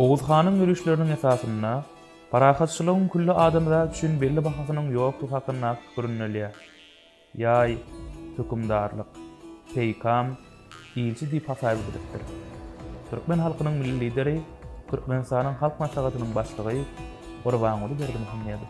Oguz hanyň ýörişleriniň esasynda parahatçylygyň külli adamzat üçin belli bahasynyň ýokdugy hakyndaky pikir ündelýär. Ýaý, hökümdarlyk, peýkam, ilçi diýip hasaýyp edilipdir. Türkmen halkynyň Milli Lideri, Türkmenistanyň Halk Maslahatynyň Başlygy Gurbanguly Berdimuhamedow.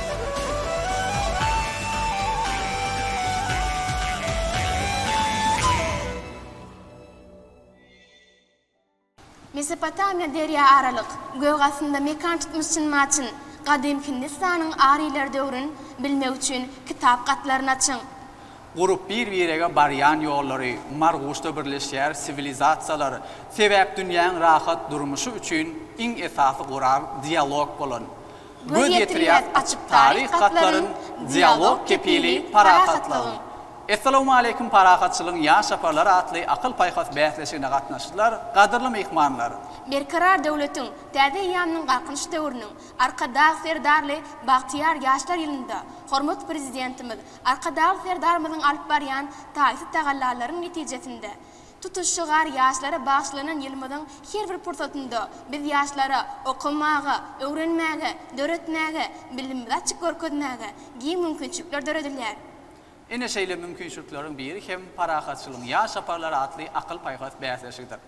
Mesopotamiýa derýa aralyk gökastynda mekan tutmyş üçin maçyn, Gadym Hindistanyň ariler döwrün bilmek üçin kitap gatlaryny açyň. Gurup bir-birege barýan ýollary Marguşda birleşýär Siwilizasiýalar, sebäp dünýäň rahat durmuşy üçin iň esasy gural dialog bolan Göz ýetirýäs açyk taryh gatlaryn, Dialog kepili parasatlygyň. Essalawmaleýkim Parahatçylygyň ýaş çaparlary atly akyl-paýhas bäsleşigine gatnaşyjylar, gadyrly myhmanlar! Berkarar döwletiň, täze eýýamynyň Galkynyş döwrüniň Arkadag Serdarly bagtyýar ýaşlar ýylynda hormatly Prezidentimiz Arkadagly Serdarymyzyň alyp barýan taýsyz tagallalarynyň netijesinde Tutuş şygar ýaşlara bagyşlanan ýylymyzyň her bir pursatynda biz ýaşlara okamaga, öwrenmäge, döretmäge, bilimimizi açyp görkezmäge giň mümkinçilikler döredilýär. Ine şeýle mümkinçilikleriň biri hem Parahatçylygyň ýaş saparlary atly akyl-paýhas bäsleşigidir.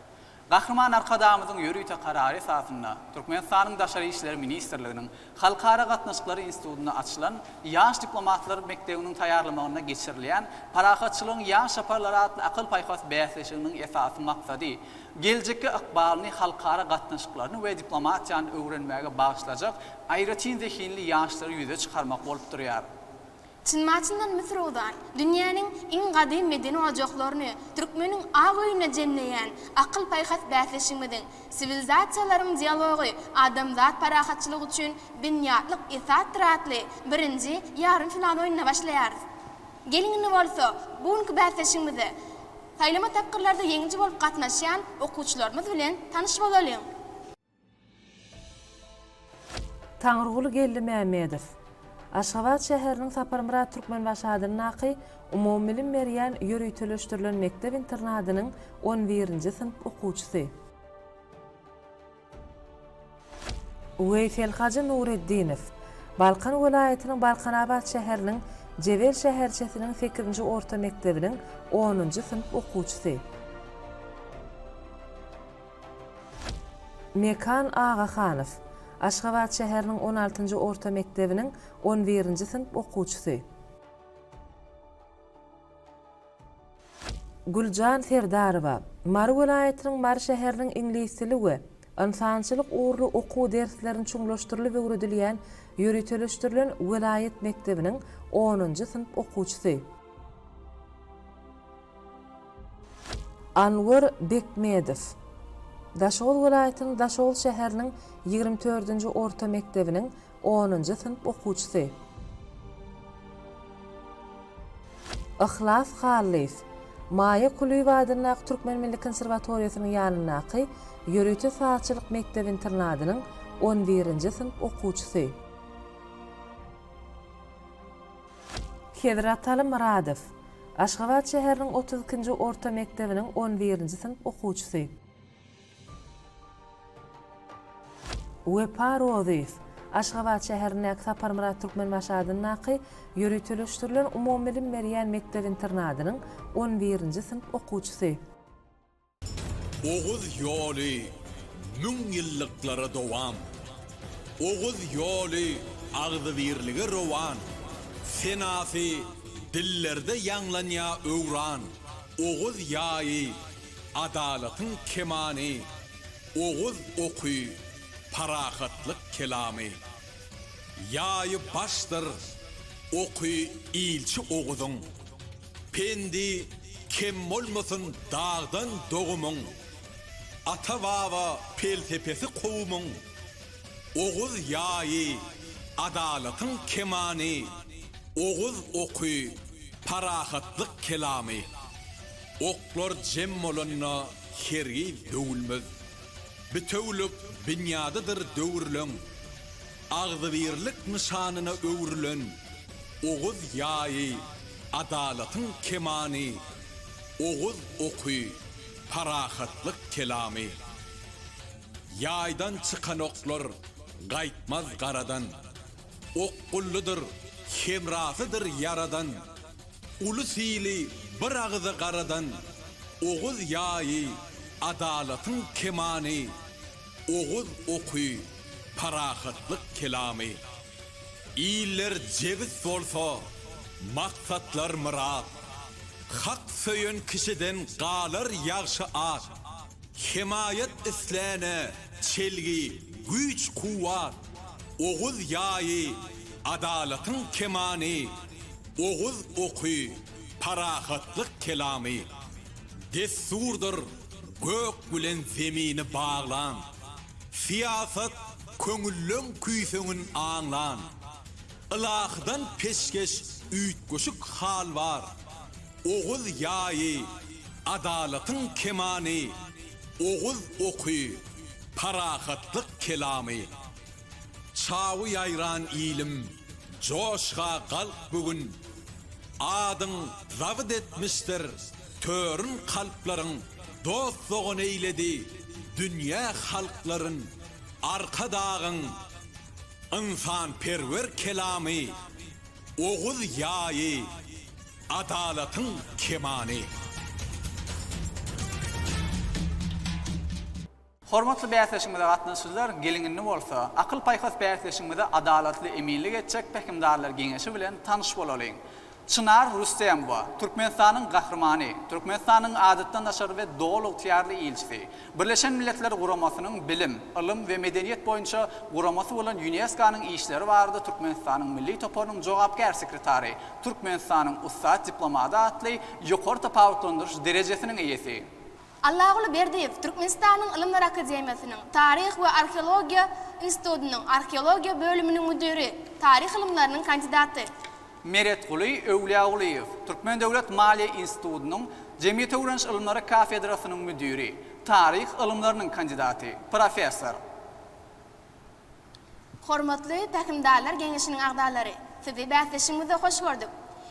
Gahryman Arkadagymyzyň ýörite karary esasynda Türkmenistanyň Daşary işler ministrliginiň Halkara gatnaşyklary institutynda açylan Ýaş diplomatlar mekdebiniň taýýarlamagynda geçirilýän Parahatçylygyň ýaş şaparlary atly akyl-paýhas bäsleşiginiň esasy maksady, geljekki ykbalyny halkara gatnaşyklaryny we diplomatiýany öwrenmäge bagyşlajak aýratyn zehinli ýaşlary ýüze çykarmak bolup durýar. Çynma-çyndan Müsür ozan, dünýäniň iň gadym medeni ojaklaryny, türkmeniň ak öýüne jemleýän akyl-paýhas bäsleşigimiziň, siwilizasiýalaryň dialogy, adamzat parahatçylygy üçin binýatlyk esasdyr atly birinji ýarym final oýnuna başlaýarys. Geliň indi bolsa, bu günki bäsleşigimize saýlama tapgyrlarda ýeňiji bolup gatnaşýan okuwçylarymyz bilen tanyş bolalyň! Taňryguly Geldimämmedow. Aşgabat şäheriniň Saparmyrat Türkmenbaşy adyndaky umumybilim berýän ýöriteleşdirilen mekdep-internadynyň on birinji synp okuwçysy. Weýselhajy Nureddinow. Balkan welaýatynyň Balkanabat şäheriniň Jebel şäherçesiniň sekizinji orta mekdebiniň onunjy synp okuwçysy. Mekan Agahanow, Aşgabat şäheriniň on altynjy orta mekdebiniň on birinji synp okuwçysy. Güljan Serdarowa, Mary welaýatynyň Mary şäheriniň iňlis dili we ynsançylyk ugurly okuw derslerini çuňlaşdyrylyp öwredilýän ýöriteleşdirilen welaýat mekdebiniň onunjy synp okuwçysy. Anwar Bekmedow Daşoguz welaýatynyň Daşoguz şäheriniň ýigrimi dördünji orta mekdebiniň onunjy synp okuwçysy. Yhlas Hallyýew Maýa Kulyýewa adyndaky Türkmen milli konserwatoriýasynyň ýanyndaky ýörite sazçylyk mekdep-internadynyň on birinji synp okuwçysy. Hezrataly Myradow, Aşgabat şäheriniň otuz ikinji orta mekdebiniň on birinji synp okuwçysy. Wepa Rozyýew, Aşgabat şäherindäki Saparmyrat Türkmenbaşy adyndaky ýöriteleşdirilen umumybilim berýän mekdep-internadynyň on birinji synp okuwçysy. Oguz ýoly müň ýyllyklara dowam. Oguz ýoly agzybirlige rowan. Senasy dillerde ýaňlanýa öwran. Oguz ýaýy, adalatyň kemany. Oguz oky, parahatlyk kelamy. Ýaýy başdyr, oky ilçi Oguzyň. Pendi kem bolmasyn dagdan dogumyň, Ata-baba pelsepesi kowumyň, Oguz ýaýy, adalatyň kemany, Oguz oky, parahatlyk kelamy. Oklar jem bolanda hergiz döwülmez, Bitewülik binýadydyr döwürleň. Agzybirlik nyşanyna öwrülen Oguz ýaýy, adalatyň kemany, Oguz oky, parahatlyk kelamy. Ýaýdan çykan oklar gaýtmaz garadan, Okgullydyr, hemrasydyr ýaradan, Ulus-ili bir agyza garadan, Oguz ýaýy, adalatyň kemany. Oguz oky, parahatlyk kelamy. Iller jebis bolsa, maksatlar myrat. Hak söýen kişiden galar ýagşy at. Hemaýat islänä çelgi, güýç-kuwwat. Oguz ýaýy, adalatyň kemany. Oguz oky, parahatlyk kelamy. Dessurdyr gök bilen zemini baglan, Syýasat köňülleň küýseňin aňlan. Ylahydan peşgeş üýtgeşik hal bar, Oguz ýaýy, adalatyň kemany, Oguz oky, parahatlyk kelamy. Çawy ýaýran ilim, joşga galk bu gün, Adyň zabyt etmişdir törün kalplaryň, Dost-dogan eýledi dünýä halklaryn, Arkadagyň ynsanperwer kelamy, Oguz ýaýy, adalatyň kemany. Hormatly bäsleşigimize gatnaşyjylar, geliň indi bolsa, akyl-paýhas bäsleşigimize adalatly eminlik etjek Pähimdarlar geňeşi bilen tanyş bolalyň. Çynar Rüstemowa, Türkmenistanyň Gahrymany, Türkmenistanyň Adatdan daşary we Doly ygtyýarly ilçisi, Birleşen Milletler Guramasynyň Bilim, ylym we medeniýet boýunça guramasy bolan Ýuneskonyň işleri barada Türkmenistanyň Milli toparynyň jogapkär sekretary, Türkmenistanyň ussat diplomady atly ýokary tapawutlandyryş derejesiniň eýesi. Allaguly Berdiýew Türkmenistanyň Ylymlar akademiýasynyň Taryh we arheologiýa institutynyň arheologiýa bölüminiň müdiri, taryh ylymlarynyň kandidaty. Meretguly Öwlýagulyýew Türkmen döwlet maliýe institutynyň Jemgyýetöwreniş ylymlary kafedrasynyň müdiri, taryh ylymlarynyň kandidaty, professor. Hormatly Pähimdarlar geňeşiniň agzalary, Sizi bäsleşigimizde hoş gördük.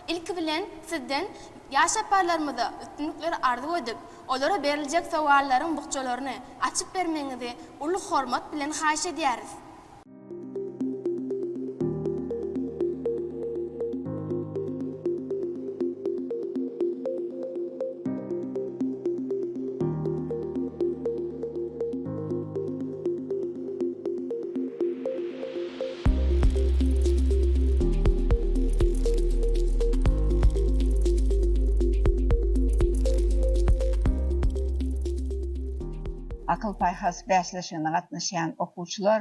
Ilki bilen, Sizden ýaş ýaparlarymyza üstünlikleri arzuw edip, olara beriljek sowallaryň bukjalaryny açyp bermegiňizi uly hormat bilen haýyş edýäris. Akyl-paýhas bäsleşigine gatnaşýan okuwçylar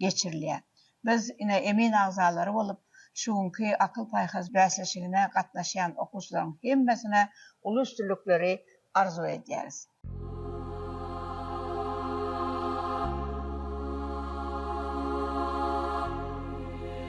geçirilýär. Biz ine emin agzalary bolup, şu günki akyl-paýhas bäsleşigine gatnaşýan okuwçylaryň hemmesine uly üstünlikleri arzuw edýäris.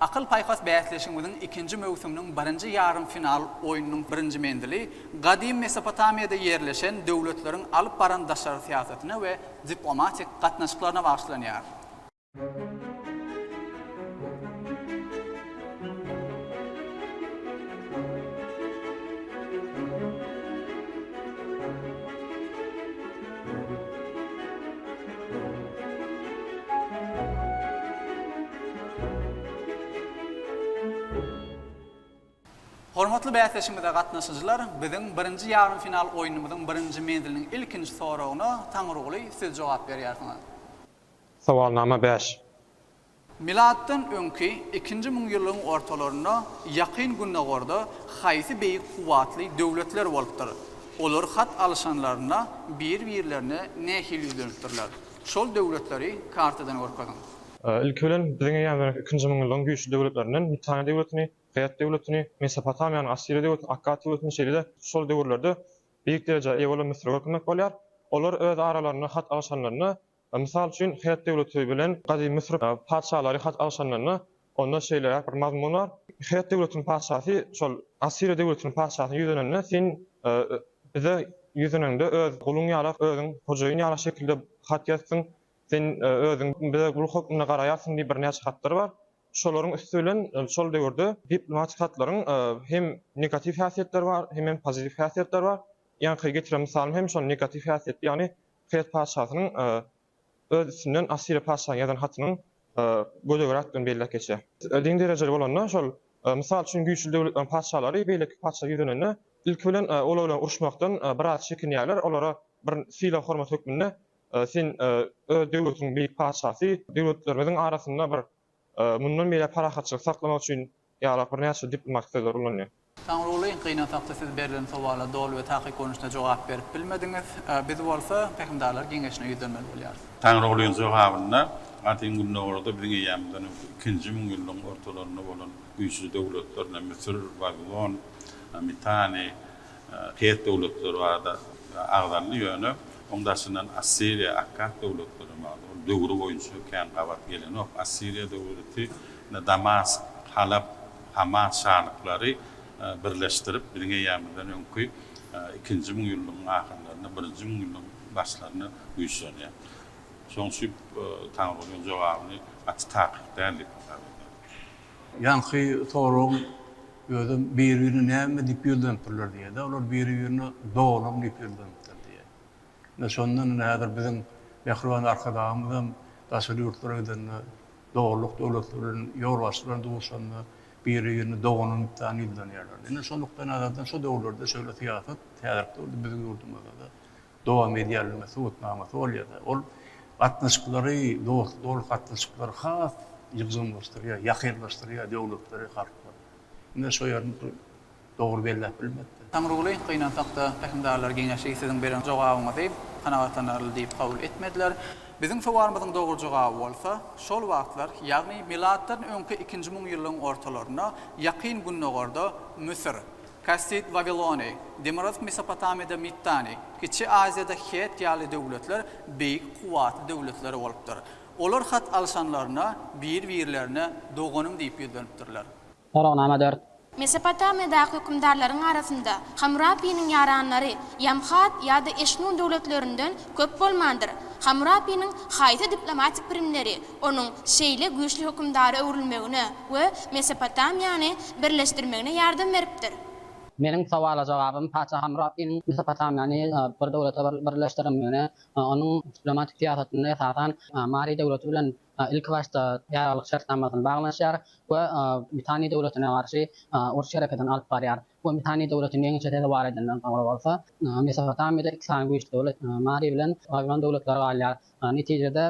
Akyl-paýhas bäsleşigimiziň ikinji möwsüminiň birinji ýarym final oýnunyň birinji menzili Gadymy Mesopotamiýada ýerleşen döwletleriň alyp baran daşary syýasatyna we diplomatik gatnaşyklaryna bagyşlanýar. Hormatly bäsleşigimize gatnaşyjylar, biziň birinji ýarym final oýnumyzyň birinji menziliniň ilkinji soragyna Taňryguly siz jogap berýärsiňiz. Sowalnama bäş. Milatdan öňki ikinji müňýyllygyň ortalarynda Ýakyn Gündogarda haýsy beýik kuwwatly döwletler bolupdyr? Olar hat alyşanlarynda bir-birlerine nähili ýüzlenipdirler? Şol döwletleri kartadan görkeziň. Ilki bilen, biziň eýýämizden ikinji müňýyllygyň güýçli döwletlerinden Mitaniýa döwletini, Ret döwletini, Mesopotamiýanyň Assiriýa döwletini, Akkat döwletini, şeýle-de şol döwürlerde beýik derejä eýe bolan Müsüri görkezmek bolýar. Olar öz aralarynda hat alyşanlarynda Mysal üçin, Hett döwleti bilen gadymy Müsür patyşalary hat alşanlarynda, onda şeýleräk bir mazmun bar, Hett döwletiniň patyşasy şol Assiriýa döwletiniň patyşasyna ýüzlenende, Sen bize ýüzlenende, öz guluň ýala, özüň hojaýyn ýala şekilde hat ýazsyň, sen özüň bize gul hökmünde garaýarsyň diýip birnäçe hatlar bar. Şolaryň üsti bilen şol döwürde diplomatik hatlaryň hem negatiw häsiýetleri bar, hemem pozitiw häsiýetleri bar. Ýaňky getiren mysalym hem şol negatiw häsiýetli, ýagny Pers patyşasynyň öz üstünden Assiriýa patyşasyna ýazan hatynyň göze görä-tdygyny belläp geçýär. Din derejeli bolanda, şol, mysal üçin, güýçli döwletleriň patyşalary beýleki patyşa ýüzlenende, ilki bilen olar bilen uruşmakdan biraz çekinýärler, olara bir sylag-hormat hökmünde Sen öz döwletiň beýik patyşasy, döwletlerimiziň arasynda bir mundan beýläk parahatçylyk saklamak üçin Ýalak birnäçe diplomatik sözler ulanýar. Saňrulyn, gynansakda siz berlen sowala doly we takyk görnüşde jogap berip bilmediňiz. Biz bolsa Pähimdarlar geňeşine ýüzlenmeli bolýarys. Saňrulyn jogabynda, Gadymy Gündogarda biziň eýýamymyzdan öňki ikinji müňýyllygyň ortalarynda bolan güýçli döwletlerine, Müsür, Wawilon, Mitany, Pers döwletleri barada agzaldy, ýöne oň daşyndan Assiriýa, Akkad döwletleri hem agza boldy. Döwri boýunça kän gabat gelenok. Assiriýa döwleti Damask, Halap, Hama şalyklary birleşdirip, biziň eýämizden öňki ikinji müňýyllygyň ahyrlarynda, birinji müňýyllygyň başlarynda güýçlenýär. Şonuň üçin Taňrygulynyň jogabyny gaty takyk däl diýip hasap edýärin. Ýaňky soragyň özem biri-birine näme diýip ýüzlenipdirler diýýär-de, olar biri-birine doganym diýip ýüzlenipdir diýýär. Ine, şondan ine häzir biziň mähriban Arkadagymyz hem daşary ýurtlara gidende, dogrulykda döwletler bilen, ýolbaşçylar bilen duşanda biri-birini doganym diýipdany ýüzlenýärler. Ine, şo nukdaýnazardan şo döwürlerde şeýle syýasat häzirki döwürde biziň ýurdumyzda-da dowam edýändigine subutnamasy bolýar-da. Ol gatnaşyklary, dostluk, dogrulyk gatnaşyklary has ýygjamlaşdyrýar, ýakynlaşdyrýar döwletleri, halklary. Ine, şo ýerini dogry belläp bilmekde. Taňryguly, Gynansakda, pähimdarlar geňeşi siziň beren jogabyňyzy kanagatlanarly diýip kabul etmediler. Biziň sowalymyzyň dogry jogaby bolsa, şol wagtlar, ýagny milatdan öňki ikinji müňýyllygyň ortalarynda Ýakyn Gündogarda Müsür, Kassid Wawilony, Demirgazyk Mesopotamiýada Mittany, Kiçi Aziýada Het ýaly döwletler beýik kuwwatly döwletler bolupdyr. Olar hat alyşanlarynda bir-birlerine doganym diýip ýüzlenipdirler. Soragnama dört. Mesopotamiýadaky hökümdarlaryň arasynda Hammurapiniň ýaranlary Ýamhat ýa-da Eşmun döwletlerinden köp bolmandyr. Hammurapiniň haýsy diplomatik primleri onuň şeýle güýçli hökümdara öwrülmegine we Mesopotamiýany birleşdirmegine ýardam beripdir? Meniň sowala jogabym, patyşa Hammurapiniň Mesopotamiýany bir döwlete birleşdirendigine, onuň diplomatik syýasatynda esasan Mary döwleti bilen ilkibaşda ýaraglyk şertnamasyny baglanyşýar we Mitanýy döwletine garşy uruş hereketini alyp barýar we Mitanýy döwletini ýeňişe sezewar edenden soňra bolsa, Mesopotamiýada iki sany güýçli döwlet, Mary bilen Wabilon döwletleri galýar. Netijede,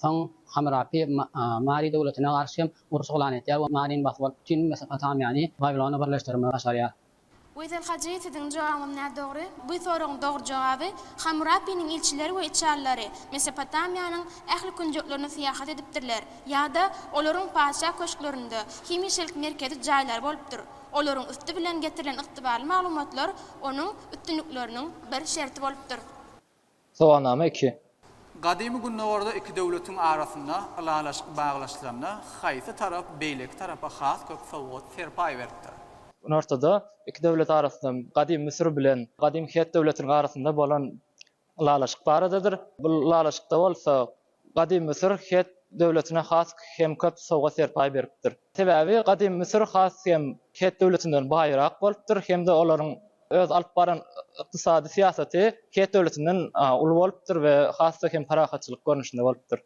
soň Hamurapi Mary döwletine garşy uruş yglan edýär we Maryny basyp alyp, bütin Mesopotamiýany Wabilona birleşdirmegi başarýar. Weýsel Hajy siziň jogabyňyz nädogry. Bu soragyň dogry jogaby, Hammurapiniň ilçileri we içalylary Mesopotamiýanyň ähli künjeklerine syýahat edipdirler ýa-da olaryň patyşa köşklerinde hemişelik merkezi jaýlary bolupdyr. Olaryň üsti bilen getirilen ygtybarly maglumatlar onuň üstünlikleriniň bir şerti bolupdyr. Sowagnama iki. Gadymy Gündogarda iki döwletiň arasynda ylalaşyk baglaşylanda haýsy tarap beýleki tarapa has köp sowgat-serpaý beripdir? Günortada iki döwlet arasynda Gadymy Müsür bilen Gadymy Het döwletiniň arasynda bolan ylalaşyk baradadyr. Bu ylalaşykda bolsa Gadym Müsür Het döwletine has hem köp sowgat-serpaý beripdir. Sebäbi Gadym Müsür has hem Het döwletinden baýrak bolupdyr hem-de olaryň öz alyp baran ykdysady syýasaty Het döwletinden uly bolupdyr we has-da hem parahatçylyk görnüşinde bolupdyr.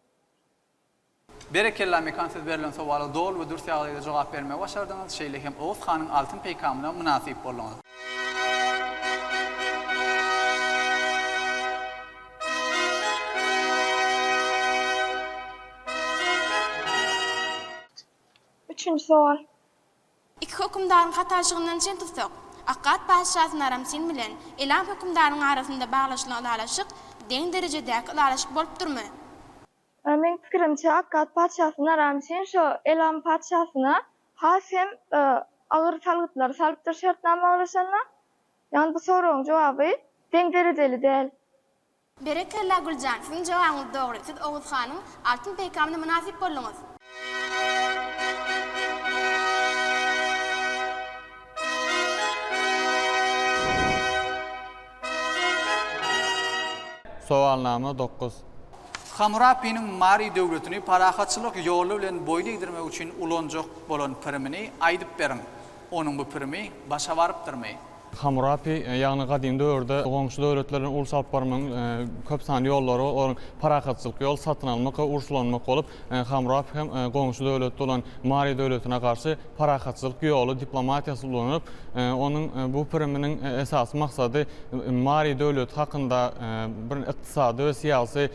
Berekella Mekan siz berlen sowala doly we dürs ýagdaýda jogap bermegi başardyňyz, şeýle hem Oguz hanyň altyn peýkamyna mynasyp bolduňyz. Üçünji sowal. Iki hökümdaryň hatarşygyndan çen tutsak, Akkad patyşasy Naramsin bilen Elam hökümdarynyň arasynda baglaşylan ylalaşyk deň derejedäki ylalaşyk bolup durmy? Meň pikirimçe, Akkad patyşasy Naramsin şo Elam patyşasyna has hem agyr salgytlary salypdyr şertnama baglaşanda. Ýagny bu soragyň jogaby deň derejeli däl. Berekella Güljan siziň jogabyňyz dogry siz Oguz hanyň Altyn peýkamyna mynasyp bolduňyz. Sowalnama dokuz. Hammurapiniň Mari döwletini parahatçylyk ýoly bilen boýun egdirmek üçin ulanjak bolan pirimini aýdyp beriň. Onuň bu primi başa barypdyrmy? Hammurapi, ýagny gadymy döwürde goňşy döwletler bilen uruş alyp barmagyň köp sanly ýollary, olar parakatçylykly ýol, satyn almak we uruşlanmak bolup, Hammurapi hem goňşy döwlet bolan Mari döwletine garşy parakatçylyk ýoly, diplomatiýasy ulanyp, onuň bu priminiň esasy maksady Mari döwleti hakynda bir ykdysady we syýasy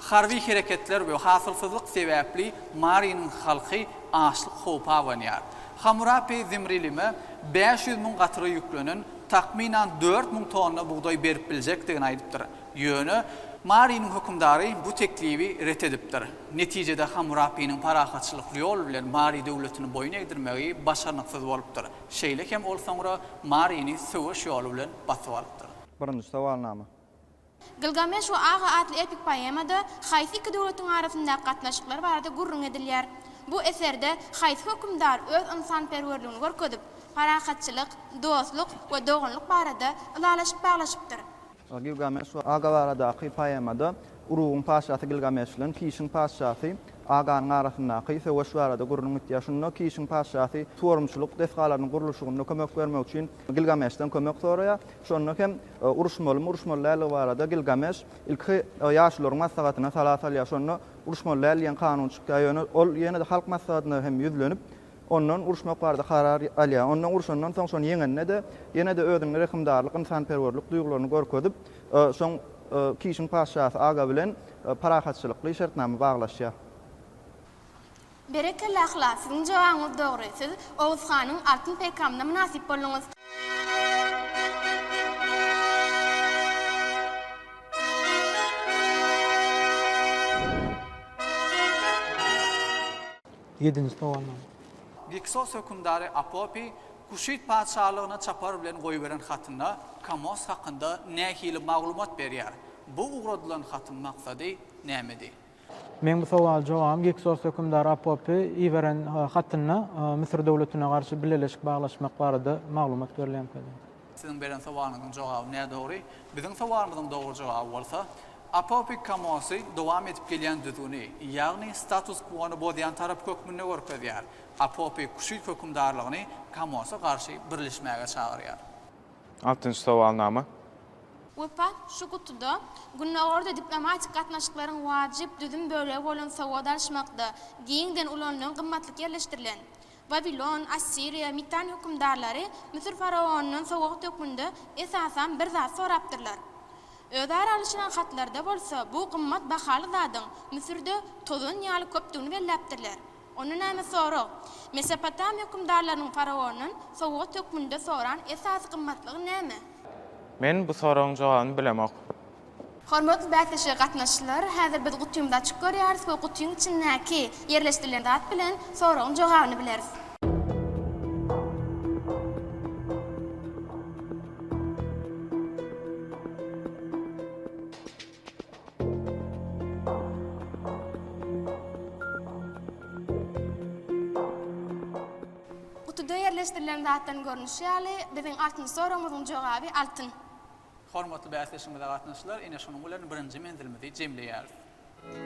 Harby hereketler we hasylsyzlyk sebäpli Mariniň halky açlyk howpy abanýar. Hamurapi Zimrilime bäş ýüz müň gatyra ýüklenen takmynan dört müň tonna bugdaý berip biljekdigini aýdypdyr. Ýöne. Mariniň hökümdary bu teklibi ret edipdir. Netijede Hamurapiniň parahatçylykly ýol bilen Mari döwletini boýun egdirmegi başarnyksyz bolupdyr. Şeýle hem ol soňra Marini söweş ýoly bilen basyp alypdyr. Birinji sowalnama. Gilgameş we Aga atly epik poemada haýsy iki döwletiň arasyndaky gatnaşyklar barada gürrüň edilýär? Bu eserde haýsy hökümdar öz ynsanperwerligini görkezip, parahatçylyk, dostluk we doganlyk barada ylalaşyk baglaşypdyr? Gilgameş we Aga baradaky poemada Urugyň patyşasy Gilgameş bilen Kişiň patyşasy Aganyň arasyndaky söweş barada gürrüň gitýär. Şunda Kişiň patyşasy suwarymçylyk desgalarynyň gurluşygynda kömek bermek üçin Gilgameşden kömek soraýar. Şonda hem Uruşmalymy, uruşmaly däldigi barada Gilgameş ilki ýaşulularyň maslahatyna sala salýar. Şonda uruşmaly däl diýen kanun çykýar. Ýöne ol ýene-de halk maslahatyna hem ýüzlenip, ondan uruşmak barada karar alýar. Ondan urşandan soň, şony ýeňende-de, ýene-de özüniň rehimdarlyk, ynsanperwerlik duýgularyny görkezip, soň Kişiň patyşasy Aga bilen parahatçylykly şertnama baglaşýar. Berekella Yhlas siziň jogabyňyz dogry siz Oguz hanyň altyn peýkamyna mynasyp bolduňyz. Ýedinji sowalnama. Giksos hökümdary Apopi Kuşit patyşalygyna çapar bilen goýberen hatynda Kamos hakynda nähili maglumat berýär? Bu ugradylan hatyň maksady nämedi? Meň bu sowal jogabym Giksos hökümdar Apopy iberen hatynda Müsür döwletine garşy bileleşik baglaşmak barada maglumat berilýänkädi. Siziň beren sowalyňyzyň jogaby nädogry. Biziň sowalymyzyň dogry jogaby bolsa, Apopy Kamosy dowam edip gelýän düzgüni, ýagny status kwony bozýan tarap hökmünde görkezýär. Apopy Kuşit hökümdarlygyny Kamosa garşy birleşmäge çagyrýar. Altynjy sowalnama. Wepa, şu gutuda Gündogarda diplomatik gatnaşyklaryň wajyp düzüm bölegi bolan sowgat alyşmakda giňden ulanylan gymmatlyk ýerleşdirilen, Wawilon, Assiriýa, Mitan hökümdarlary Müsür faraonyndan sowgat hökmünde esasan bir zat sorapdyrlar. Özara alyşylan hatlarda bolsa bu gymmat bahaly zadyň Müsürde tozan ýaly köpdügini belläpdirler. Onda näme sorag? Mesopotamiýa hökümdarlarynyň faraondan sowgat hökmünde soran esasy gymmatlygy näme? Men bu soragyň jogabyny bilemok. Hormatly bäsleşige gatnaşyjylar, häzir biz gutymyzy açyp görýäris we gutyň içindäki ýerleşdirilen zat bilen soragyň jogabyny bileris. Gutuda ýerleşdirilen zatlaryň görnüşi ýaly, biziň altyn soragymyzyň jogaby altyn. Hormatly bäsleşigimize gatnaşyjylar, ine şonuň bilen birinji menzilimizi jemleýäris.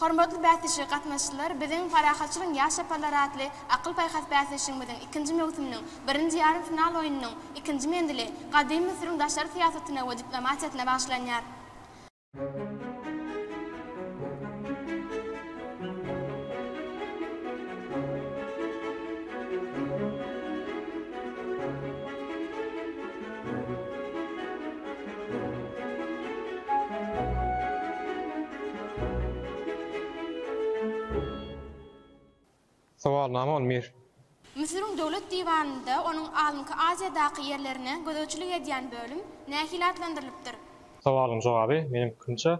Hormatly bäsleşige gatnaşyjylar biziň Parahatçylygyň ýaş çaparlary atly akyl-paýhas bäsleşigimiziň ikinji möwsüminiň birinji ýarym final oýnunyň ikinji menzili Gadymy Müsüriň daşary syýasatyna we diplomatiýasyna bagyşlanýar. Sowalnama on bir. Müsüriň Döwlet diwanynda onuň Alymky Aziýadaky ýerlerine gözegçilik edýän bölüm nähili atlandyrylypdyr? Sowalyň jogaby, meniň pikirimçe,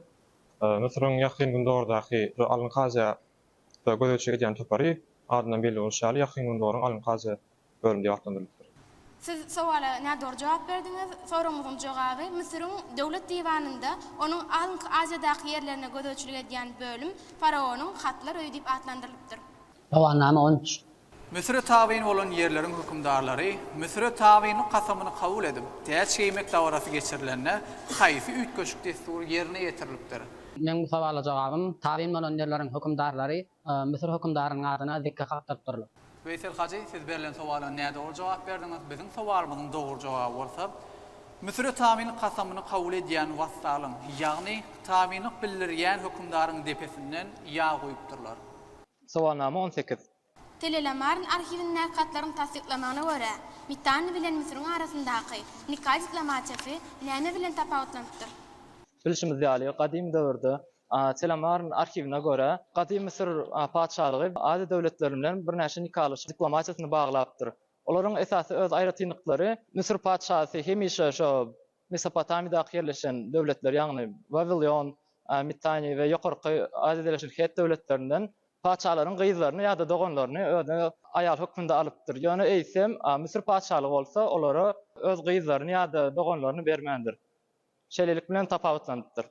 Müsüriň Ýakyn Gündogardaky şu Alymky Aziýada gözegçilik edýän topary, adyndan belli bolşy ýaly, Ýakyn Gündogaryň Alymky Aziýa görnüşde atlandyrylypdyr. Siz sowala nädogry jogap berdiňiz. Soragyňyzyň jogaby, Müsüriň Döwlet diwanynda onuň alynky Aziýadaky ýerlerine gözegçilik edýän bölüm faraonyň Hatlar öýi diýip atlandyrylypdyr. Gawannama on üç. Müsüre tabyn bolan ýerleriň hökümdarlary Müsüre tabynlyk kasamyny kabul edip, täç geýmek dabarasy geçirilende haýsy üýtgeşik dessury ýerine ýetirilipdir? Meniň bu sowala jogabym, tabyn bolan ýerleriň hökümdarlary Müsür hökümdarynyň adyna zikge kakdyryp durlup. Weýsel hajy, siz berlen sowala nädogry jogap berdiňiz. Biziň sowalymyzyň dogry jogaby bolsa, Müsüre tabynlyk kasamyny kabul edýän wassalyň, ýagny tabynlyk bildirýän hökümdaryň depesinden ýag guýupdyrlar. Sowalnama on sekiz. Tele-Lamarn arhiwindäki hatlaryň tassyklamagyna görä, Mitanni bilen Müsüriň arasyndaky nika diplomatiýasy näme bilen tapawutlanypdyr? Bilşimiz ýaly, gadym döwürde Telemaryň arhiwine görä, gadymy Müsür patyşalygy Aziýa döwletleri bilen birnäçe nikalaşyk diplomatiýasyny baglapdyr. Olaryň esasy öz aýratynlyklary Müsür patyşasy hemişe şo Mesopotamydaky ýerleşen döwletler, ýagny Wawilion, Mittaniýa we Ýokarky Aziýada ýerleşen Hett döwletlerinden patyşalaryň gyzlaryny ýa-da doganlaryny özüne aýal hökmünde alypdyr. Ýöne eýsem Müsür patyşalygy bolsa olara öz gyzlaryny ýa-da doganlaryny bermändir. Şeýlelik bilen tapawutlanypdyr.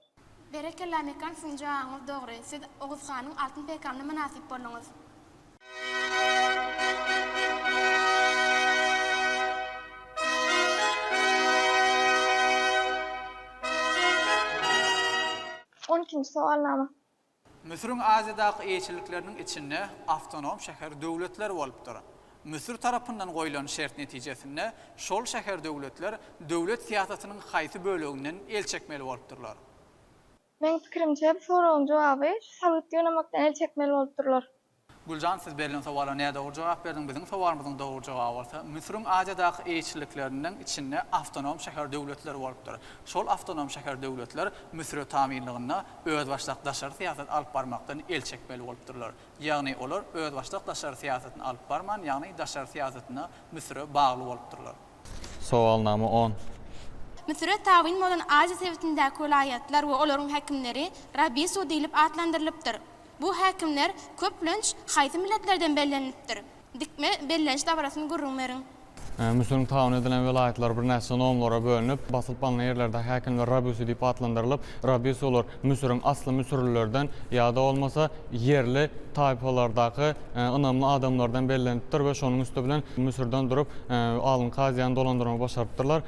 Berekella Mekan siziň jawabyňyz dogry siz Oguz hanyň altyn peýkamyna mynasyp bolduňyz. On ikinji sowalnama. Müsüriň Aziýadaky eýeçilikleriniň içinde awtonom şäher-döwletler bolupdyr. Müsür tarapyndan goýlan şert netijesinde şol şäher-döwletler döwlet syýasatynyň haýsy böleginden el çekmeli bolupdyrlar? Meň pikirimçe, bu soragyň jogaby şu sabyt ýygnamakdan el çekmeli bolupdyrlar. Güljan siz berlen sowala nädogry jogap berdiň, biziň sowalymyzyň dogry jogaby bolsa Müsüriň Aziýadaky eýeçilikleriniň içinde awtonom şäher döwletleri bolupdyr. Şol awtonom şäher döwletler Müsüre tabynlygynda özbaşdak daşary syýasat alyp barmakdan el çekmeli bolupdyrlar. Ýagny olar özbaşdak daşary syýasatyny alyp barman ýagny daşary syýasatyna Müsüre bagly bolupdyrlar. Sowalnama on. Müsüre tabyn bolan Aziýa sebitindäki welaýatlar we olaryň häkimleri Rabisu diýlip atlandyrylypdyr. Bu häkimler, köplenç, haýsy milletlerden bellenilipdir? Dikme belleniş dabarasyny gürrüň beriň. Müsüriň tabyn edilen welaýatlary birnäçe nomlara bölünip, basylyp alnan ýerlerdäki häkimler Rabiusi diýip atlandyrylyp, Rabiusi olar Müsüriň asly müsürlilerden ýa-da bolmasa ýerli taýpalardaky ynamly adamlardan bellenipdir we şonuň üsti bilen Müsürden durup alyn-kaziýany dolandyrmagy başarypdyrlar.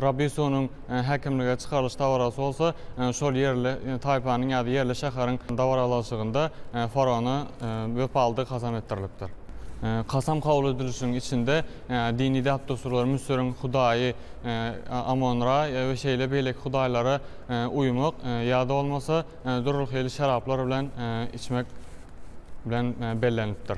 Rabiusi onuň. häkimlige çykarylyş dabarasy bolsa şol ýerli taýpanyň ýa-da ýerli şäheriň dabaralaşygynda faraona wepalydygy kasam etdirilipdir. Kasam kabul edilişiň içinde dini däp-dessurlar Müsüriň hudaýy Amon-Ra we şeýle beýleki hudaýlara uýmak ýa-da bolmasa dürli hili şeraplar bilen içmek bilen bellenilipdir.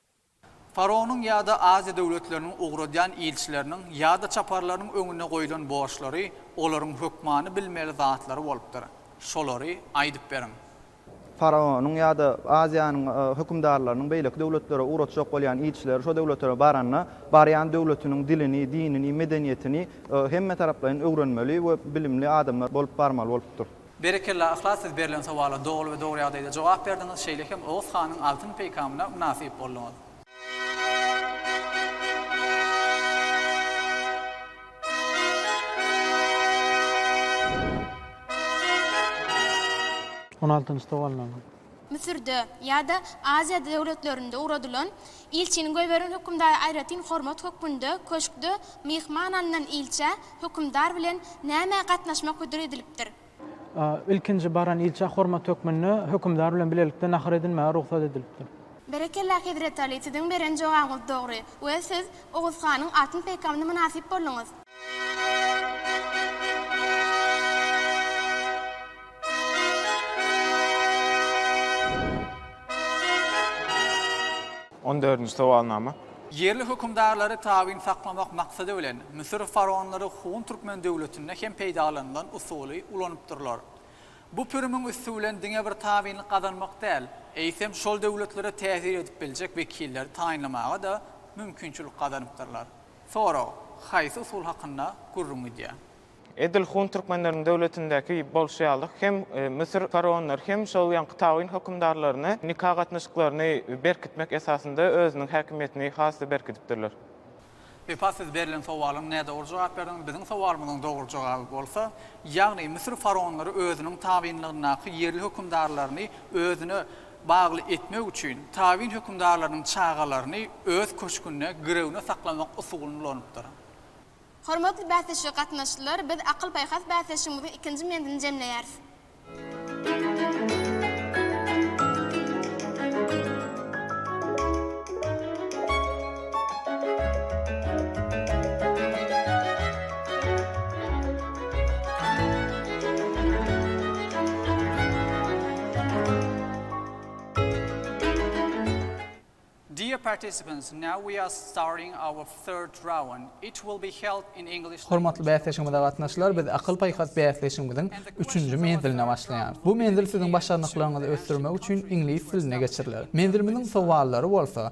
Faraonyň ýa-da Aziýa döwletleriniň ugradýan ilçileriniň ýa-da çaparlarynyň öňünde goýlan borçlary olaryň hökmany bilmeli zatlary bolupdyr. Şolary aýdyp beriň. Faraonyň ýa-da Aziýanyň hökümdarlarynyň beýleki döwletlere ugratjak bolýan ilçileri şo döwletlere baranda, barýan döwletiniň dilini, dinini, medeniýetini hemmetaraplaýyn öwrenmeli we bilimli adamlar bolup barmaly bolupdyr. Berekella Yhlas siz berlen sowala doly we dogry ýagdaýda jogap berdiňiz şeýle hem Oguz hanyň altyn peýkamyna mynasyp bolduňyz. On altynjy sowal name? Müsürde ýa-da Aziýa döwletlerinde ugradylan ilçiniň we beren hökümdara aýratyn hormat hökmünde köşkde myhman alnan ilçä hökümdar bilen nämä gatnaşmak hödür edilipdir? A. Ilkinji baran ilçä hormat hökmünde hökümdar bilen bilelikde nahar edinmäge rugsat edilipdir. Berekella Hezreti Ali siziň beren jogabyňyz dogry we siz Oguz hanyň altyn peýkamyna mynasyp bolduňyz. On dördünji sowalnama. Ýerli hökümdarlary tabyn saklamak maksady bilen, Müsür faraonlary Hun türkmen döwletinde hem peýdalanylan usuly ulanypdyrlar. Bu pürimiň üsti bilen diňe bir tabynlyk gazanmak däl, eýsem, şol döwletlere täsir edip biljek wekilleri taýynlamaga-da mümkinçilik gazanypdyrlar. Sorag, Haýsy usul hakynda gürrüň gidýär? Edil hun türkmenleriniň döwletindäki bolşy ýaly hem Müsür faraonlary hem şol ýaňky tawyn hökümdarlaryny nika gatnaşyklaryny berkitmek esasynda özüniň häkimiýetini has-da berkidipdirler. Wepa siz berlen sowalyň nädogry jogap berdiňiz. Biziň sowalymyzyň dogry jogaby bolsa, ýagny Müsür faraonlary özüniň tawynlygyndaky ýerli hökümdarlaryny özüne bagly etmek üçin tabyn hökümdarlarynyň çagalaryny öz köşgünde girewine saklamak usulyny ulanypdyr. Hormatly bäsleşige gatnaşyjylar, biz akyl-paýhas bäsleşigimiziň ikinji menzilini jemleýäris. Dear participants, now we are starting our third round. It will be held in English language. Hormatly bäsleşigimize gatnaşyjylar, biz akyl-paýhas bäsleşigimiziň üçünji menziline başlaýarys. Bu menzil siziň başarnyklaryňyzy ösdürmek üçin iňlis dilinde geçiriler. Menzilimiziň sowallary bolsa,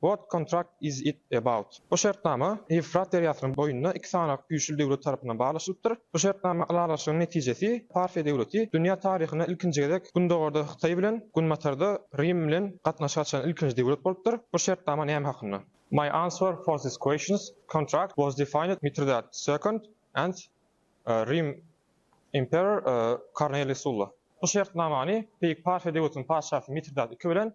What contract is it about? Bu şertnama Ýewfrat derýasynyň boýunda iki sany güýçli döwlet tarapyndan baglaşylypdyr. Bu şertnama ylalaşygyň netijesi Parfiýa döwleti dünýä taryhynda ilkinji gezek Gündogarda Hytaý bilen, Günbatarda Rim bilen gatnaşyk açan ilkinji döwlet bolupdyr. Bu şertnama näme hakynda? My answer for this questions, Contract was defined Mitridat Second and Rim Emperor Korneliý Sulla. Bu şertnamany Beýik Parfiýa döwletiniň patyşasy Mitridat ii bilen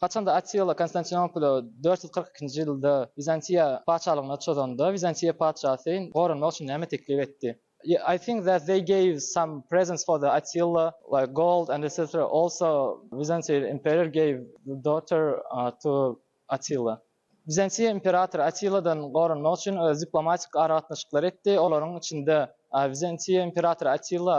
Haçanda Attila Konstantinopoli dört ýüz kyrk ikinji ýylda Wizantiýa patyşalygyna çozanda, Wizantiýa patyşasy goranmak üçin näme teklip etdi? I think that they gave some presents for the Attila like gold and etc. Also Wizantiýa imperýor gave the daughter to Attila. Bizantiýa imperatory Attiladan goranmak üçin öz diplomatik aragatnaşyklary etdi, olaryň içinde Bizantiýa imperatory Attila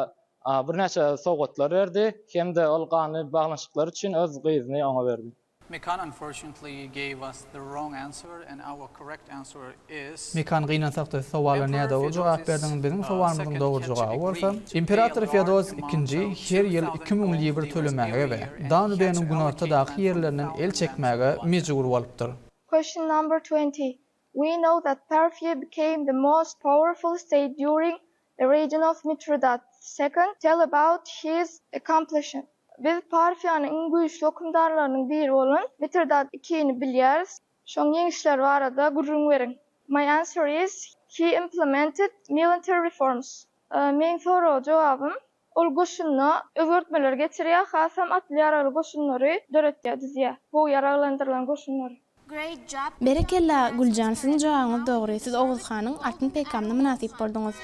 birnäçe sowgatlar berdi hem-de ol ganly baglanyşyklar üçin öz gyzyny oňa berdi. Mekan unfortunately gave us the wrong answer and our correct answer is. Mekan gynansakda sowala nädogry jogap berdiň, biziň sowalymyzyň dogry jogaby bolsa, imperator Feodos ikinji her ýyl iki müň libr tölemäge we Danubeniň günortadaky ýerlerinden el çekmäge mejbur bolupdyr. Question number twenty, We know that Parfia became the most powerful state during the region of Mithridat second, tell about his accomplishment. Biz Parfiýanyň iň güýçli hökümdarlarynyň biri bolan Mitridat ikini bilýäris. Şoň ýeňişleri barada gürrüň beriň. My answer is, he implemented milintary reforms. Meň soraga jogabym, ol goşunda özgertmeleri getirýär, hasam atly ýaragly goşunlary döretýär, düzýär. Gowy ýaraglandyrylan goşunlary. Great job. Berekella Güljan siziň jogabyňyz dogry siz Oguz hanyň atyn peýkamyna mynasyp bolduňyz.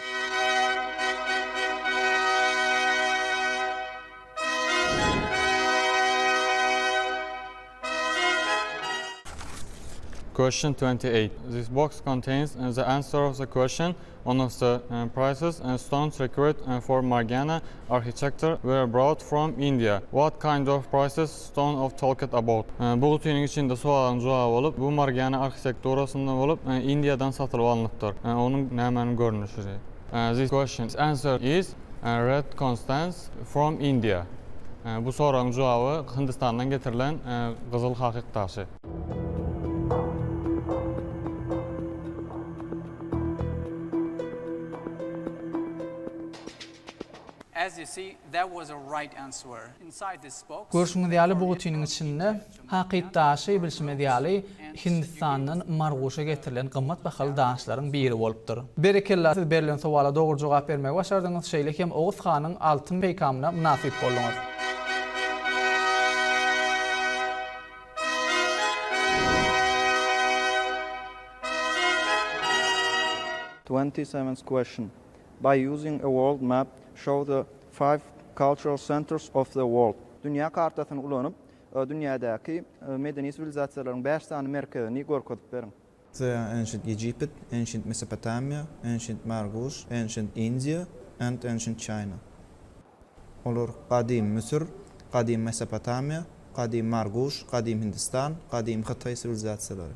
Question twenty eight, This box contains the answer of the question on of the prices and stones required for Margiana architecture were brought from India. What kind of prices stone of talked about? Bu gutynyň içinde sowagyň jogaby bolup, bu Margiana arhitekturasynda bolup, Indiýadan satylyp alnypdyr. Onuň nämäniň görnüşi? This question's answer is Red Constans from India. Bu soragyň jogaby Hindistandan getirilen gyzyl hakyk daşy. As you see, that was a right answer. Inside this box, Görşüňiz ýaly, bu gutiniň içinde Hakyt daşy, bilşimiz ýaly, Hindistandan Marguşa getirilen gymmat bahaly daşlaryň biri bolupdyr. Berekella, siz berlen sowala dogry jogap bermegi başardyňyz, şeýle hem Oguz hanyň altyn peýkamyna mynasyp bolduňyz. Twenty seventh question, By using a world map, show the five cultural centers of the world. Dünýä kartasyny ulanyp, Dünýädäki medeni siwilizasiýalaryň bäş sany merkezini görkezip beriň. The Ancient Egypit, Ancient Mesopotamia, Ancient Margush, Ancient India, and Ancient China. Olar Gadym Müsür, Gadym Mesopotamiýa, Gadym Margush, Gadym Hindistan, Gadym Hytaý siwilizasiýalary.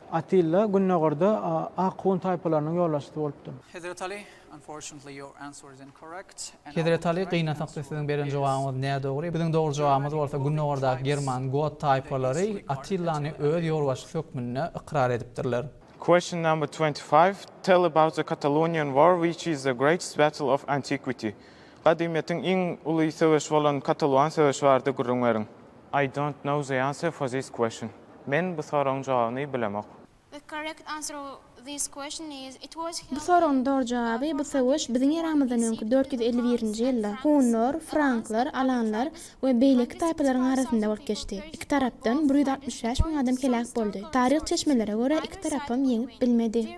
Atilla gündogarda ak hun taýpalarynyň ýolbaşçysy bolupdy. Hezret Aly, Unfortunately your answer is incorrect, and I will try to answer your question. Hezret Aly, gynansakly siziň beren jogabyňyz nädogry. Biziň dogry jogabymyz bolsa gündogardaky german, got, taýpalary Atillany öz ýolbaşçysy hökmünde ykrar edipdirler. Question number twenty five, Tell about the Catalonian war which is the greatest battle of antiquity. Gadymyýetiň iň uly söweşi bolan Kataluan söweşi barada gürrüň beriň. I don't know the answer for this question. Men bu soragyň jogabyny bilemok. The correct answer of this question is, It was Bu held soragyň in dogry jogaby, Bu söweş biziň eramyzdan öňki dört ýüz elli birinji ýylda hunlar, franklar, alanlar we beýleki taýpalaryň arasynda bolup geçdi. Iki tarapdan bir ýüz altmyş bäş müň adam heläk boldy. Taryh çeşmelere görä, iki tarapam ýeňip bilmedi.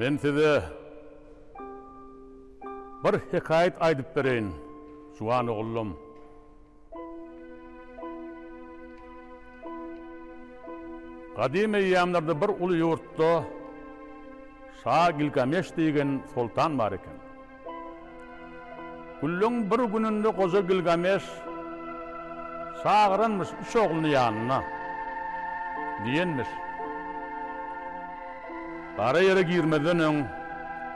Men size bir hekaýat aýdyp bereýin, juwan oglum. Gadym eýýamlarda bir uly ýurtda şa Gilgameş diýgen soltan bar eken. Günleň bir gününde goja Gilgameş çagyranmyş üç ogluny ýanyna. Diýenmiş. Gara ýere girmezden öň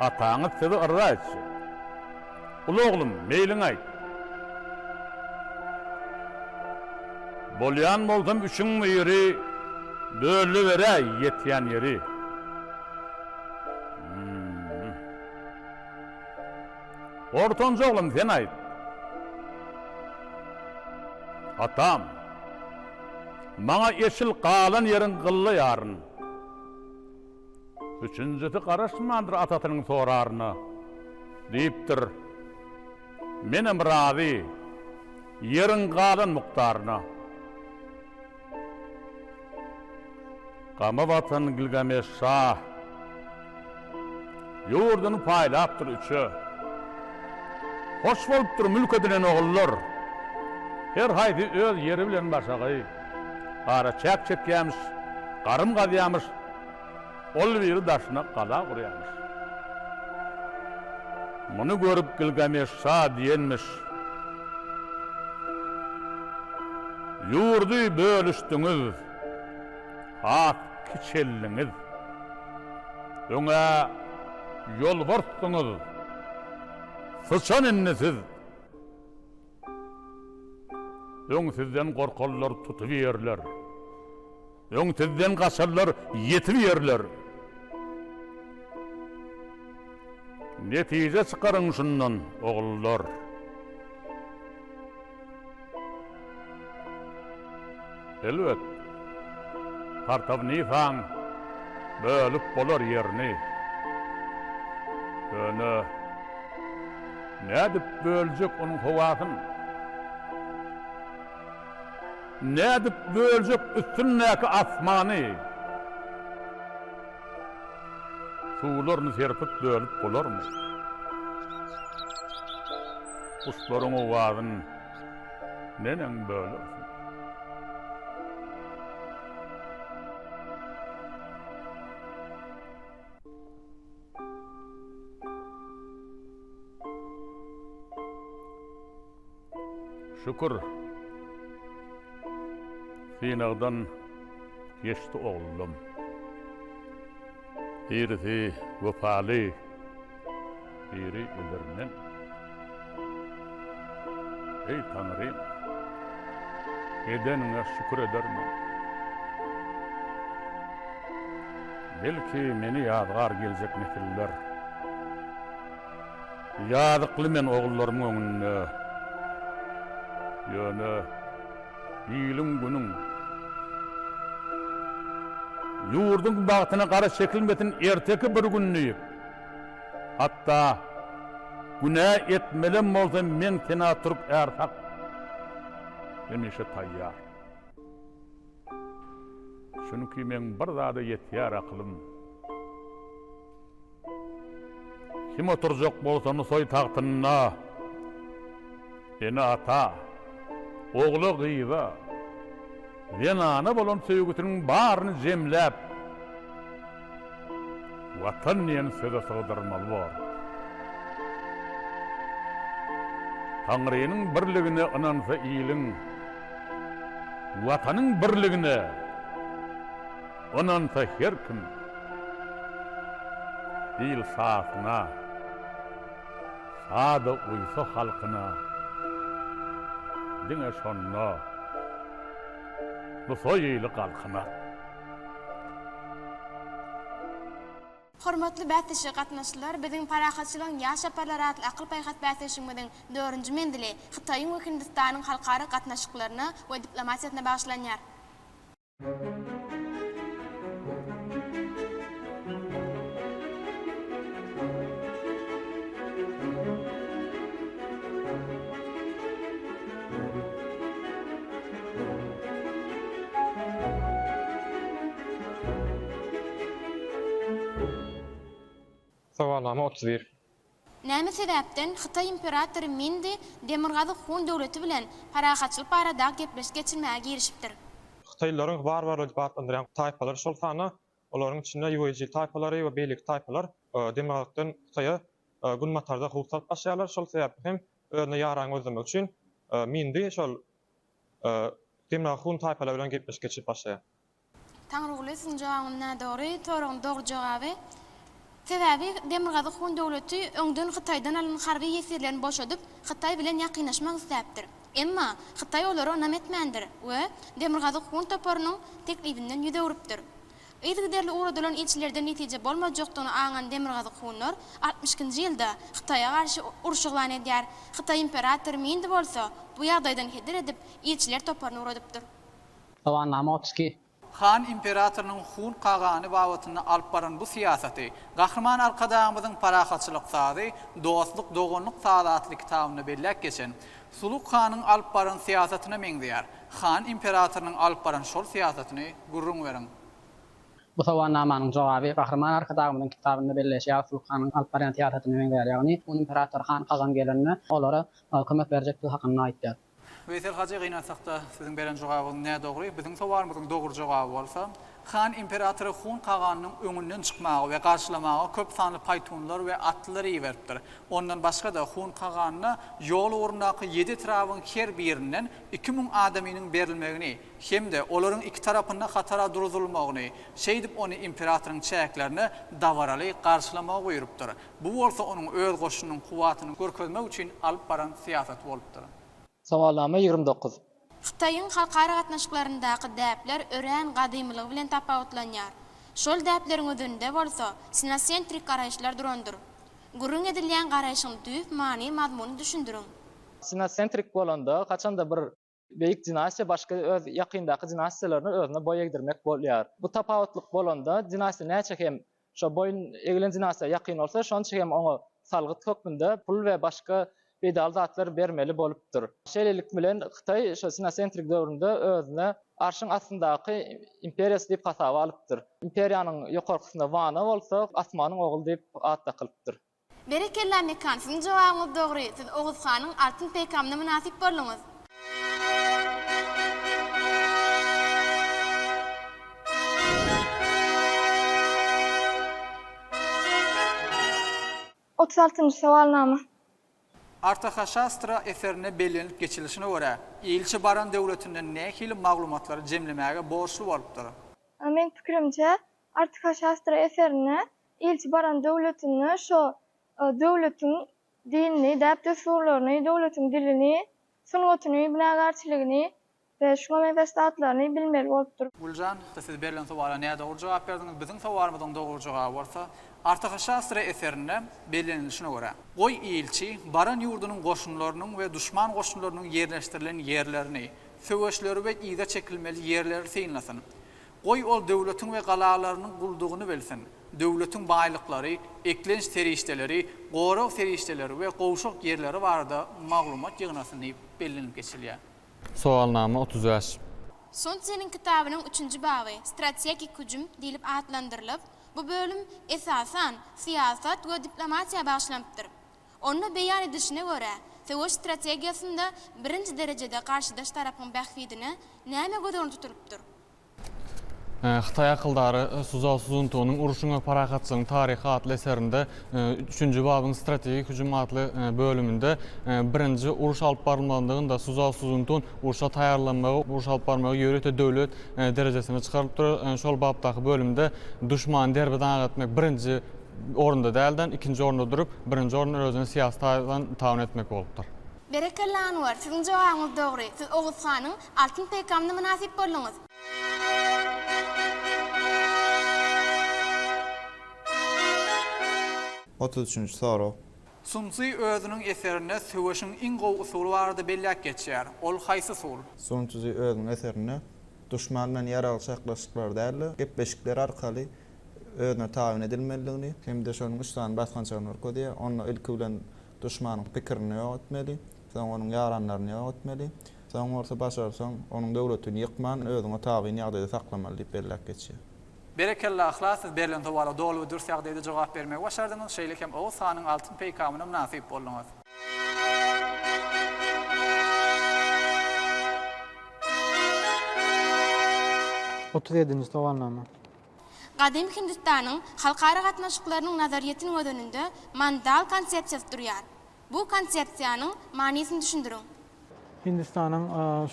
ataňyz sizi yrza etjek. Uly oglum, meýliňi aýt. Bolýan bolsam üçüň biri bölüniberäý ýetýän ýeri. Ortanjy oglan sen aýt. Atam. Maňa eşil galan ýeriň gylla ýaryn. Üçünjisi garaşmandyr atasynyň soraryna. Diýipdir. Menem razy. Ýeriň galan mukdaryna. Gama batan Gilgameş şa. Ýurduny paýlapdyr üçe. Hoş bolupdyr mülk edinen ogullar. Her haýsy öz ýeri bilen başagaý. Gara çäk çekýämiş, garym gazýamyş. Ol biri daşyna gala gurýarmyş. Muny görüp Gilgameş şa diýenmiş, Ýurdy bölüşdiňiz, has kiçeldiňiz. Öňe ýolbarsdyňyz, syçan indi siz. Öň sizden gorkarlar, tutup ýerler. Öň sizden gaçarlar, ýetip ýerler. Netije çykaryň şundan, ogullar. Elbet, Partawnisa-ň bölüp bolar ýerini. Ýöne nädip böljek onuň howasyn? Nädip böljek üstündäki asmany? Suwlaryny serpip bölüp bolarmy? Guşlaryň owazyn. Neneň böler? Şükür. Synagdan geçdi oglum. Birisi wepaly. Biri edermen. Eý Taňrym! Edeniňe şükür edermen. Belki meni ýazgar geljek nesiller. Ýazykly men ogullarymyň öňünde. Ýöne iliň-günüň, ýurduň bagtyna gara çekilmesin erteki bir gün diýip. Hatda günä etmelem bolsam men sena türk är hak hemişe taýýar. Çünki meň bir zada ýetýär akylym. Kim oturjak bolsa Nusaý tagtynda ene ata, ogla gyza, zenana bolan söýgüsiniň baryny jemläp, Watan diýen söze sygdyrmaly bor. Taňrynyň birligine ynansa iliň, Watanyň birligine ynansa her kim, Il sahyna, sada uýsa halkyna, Diňe şonda bu soýyly galkynar. Hormatly bäsleşige gatnaşyjylar, biziň Parahatçylygyň ýaş çaparlary atly akyl-paýhas bäsleşigimiziň dördünji menzili Hytaýyň we Hindistanyň halkara gatnaşyklaryna we diplomatiýasyna bagyşlanýar. Sowalnama otuz bir. Näme sebäpden Hytaý imperatory Mindi Demirgazyk Hun döwleti bilen parahatçylyk barada gepleşik geçirmäge girişipdir? Hytaýlylaryň warwarlar diýip atlandyrýan taýpalary, şol sanda Olaryň içinde ýuejil taýpalary we beýleki taýpalar demirgazykdan Hytaýa günbatarda howp salyp başlaýarlar. Şol sebäpli hem özüne ýaraýan gözlemek üçin Mindi şol demirgazyk hun taýpalar bilen gepleşik geçirip başlaýar. Taňryguly siziň jogabyňyz nädogry soragyň dogry jogaby. Sebäbi Demirgazyk Hun döwleti öňden Hytaýdan alan harby ýesirlerini boşadyp, Hytaý bilen ýakynlaşmak isläpdir. Emma Hytaý olara ynam etmändir we Demirgazyk Hun toparynyň teklibinden ýüz öwrüpdir. Yzygiderli ugradylan ilçilerden netije bolmajakdygyny aňan Demirgazyk Hunlar altmyş ikinji ýylda Hytaýa garşy uruş yglan edýär, Hytaý imperatory Mindi bolsa bu ýagdaýdan heder edip, ilçiler toparyny ugradypdyr. Guwannama otuz iki Han imperatorynyň Hun kagany babatynda alyp baran bu syýasaty Gahryman Arkadagymyzyň Parahatçylyk sazy, dostluk, doganlyk sazy atly kitabynda belläp geçen Suluk hanyň alyp baran syýasatyna meňzeýär. Han imperatorynyň alyp baran şol syýasatyny gürrüň beriň. Bu sowalnamanyň jogaby Gahryman Arkadagymyzyň kitabynda belleýşi ýaly Suluk hanyň alyp barýan syýasatyna meňzeýär, ýagny Hun imperatory Han kagan gelende olara kömek berjekdigi hakynda aýtýar. Weýsel hajy gynansakda siziň beren jogabyňyz nädogry, biziň sowalymyzyň dogry jogaby bolsa, Han imperatory Hun kaganynyň öňünden çykmaga we garşylamaga köp sanly paýtunlar we atlylar iberipdir. Ondan başga-da Hun kaganyna ýol ugrundaky ýedi etrabyň her birinden iki müň adamynyň berilmegini hem-de olaryň iki tarapynda hatara duruzylmagyny, şeýdip ony imperatoryň çäklerinde dabaraly garşylamagy buýrupdyr. Bu bolsa onuň öz goşunynyň kuwwatyny görkezmek üçin alyp baran syýasaty bolupdyr. Sowalnama ýigrimi dokuz. Hytaýyň halkara gatnaşyklaryndaky däpler örän gadymylygy bilen tapawutlanýar. Şol däpleriň özünde bolsa sinasentrik garaýyşlar durandyr. Gürrüň edilýän garaýşyň düýp many-mazmuny düşündiriň. Sinasentrik bolanda haçanda bir Beýik dinastiýa başga öz ýakyndaky dinastiýalaryny özüne boý egdirmek bolýar. Bu tapawutlyk bolanda, dinastiýa näçe hem şo boýun egilen dinastiýa ýakyn bolsa, şonça hem oňa salgyt hökmünde pul we başga peýdaly zatlar bermeli bolupdyr. Şeýlelik bilen, Hytaý şo sinocentrik döwründe özüni arşyň astyndaky imperiýasy diýip hasaba alypdyr. Imperiýanyň ýokarkysynda Wana bolsa, Asmanyň ogly diýip at dakylypdyr. Berekella Mekan siziň jogabyňyz dogry siz Oguz hanyň Altyn peýkamyna mynasyp bolduňyz. Otuz altynjy sowalnama. Artahashastra eserinde bellenilip geçilişine görä, ilçi baran döwletinden nähili maglumatlary jemlemäge borçly bolupdyr? Meň pikirimçe, Artahashastra eserinde Ilçi baran döwletinde şo döwletiň dinini, däp-dessurlaryny, döwletiň dilini, sungatyny, binagärçiligini we şuňa meňzeş zatlaryny bilmeli bolupdyr. Güljan, siz berlen sowala nädogry jogap berdiňiz. Biziň sowalymyzyň dogry jogaby bolsa, Artahşastra eserinde bellenilişine görä, Goý, ilçi, baran ýurdunyň goşunlarynyň we duşman goşunlarynyň ýerleşdirilen ýerlerini, söweşleri we yza çekilmeli ýerleri synlasyn. Goý, ol döwletiň we galalarynyň guldugyny bilsin. Döwletiň baýlyklary, eklenç serişdeleri, gorag serişdeleri we gowşak ýerleri barada maglumat ýygnasyn diýip bellenilip geçilýär. Sowalnama otuz bäş. Solzhenýyň kitabynyň üçünji baby Strategik hüjüm diýlip atlandyrylyp, bu bölüm, esasan, syýasat we diplomatiýa bagyşlanypdyr. Onda beýan edilişine görä, söweş strategiýasynda birinji derejede garşydaş tarapyň bähbidine näme göz öňünde tutulypdyr? Hytaý akyldary Suzao Suzuntunyň Urşuň we parahatçylygyň taryhy atly eserinde üçünji babyň Strategik hüjüm atly bölüminde birinji uruş alyp barylmazlygynda Suzao Suzuntun urşa taýýarlanmagy, uruş alyp barmagy ýörite döwlet derejesine çykarylypdyr. Şol bapdaky bölümde duşmany derbi-dagyn etmek birinji orunda dälden ikinji orunda durup birinji orunda özüni syýasy taýdan tabyn etmek bolupdyr. Berekella Anwar, siziň jogabyňyz dogry, siz Oguz hanyň altyn peýkamyna mynasyp bolduňyz. Otuz üçünji sorag. Sun Czi özüniň eserinde söweşiň iň gowy usuly barada belläp geçýär. Ol haýsy usul? Sun Czi özüniň eserinde duşman bilen ýaragly çaklaşyklar däl-de, gepleşikler arkaly özüne tabyn edilmelidigini hem-de şonuň üç sany basgançagyny görkezýär. Onda ilki bilen duşmanyň pikirini ýok etmeli, soň onuň ýaranlaryny ýok etmeli, soň bolsa başarsaň, onuň döwletini ýykman, özüňe tabyn ýagdaýda saklamaly diýip belläp geçýär. Berekella Yhlas siz berlen sowala doly we dürs ýagdaýda jogap bermegi başardyňyz, şeýle hem Oguz hanyň altyn peýkamyna mynasyp bolduňyz. Otuz ýedinji sowalnama. Gadymy Hindistanyň halkara gatnaşyklarynyň nazaryýetiniň göz önünde mandal konsepsiýasy durýar. Bu konsepsiýanyň manysyny düşündiriň. Hindistanyň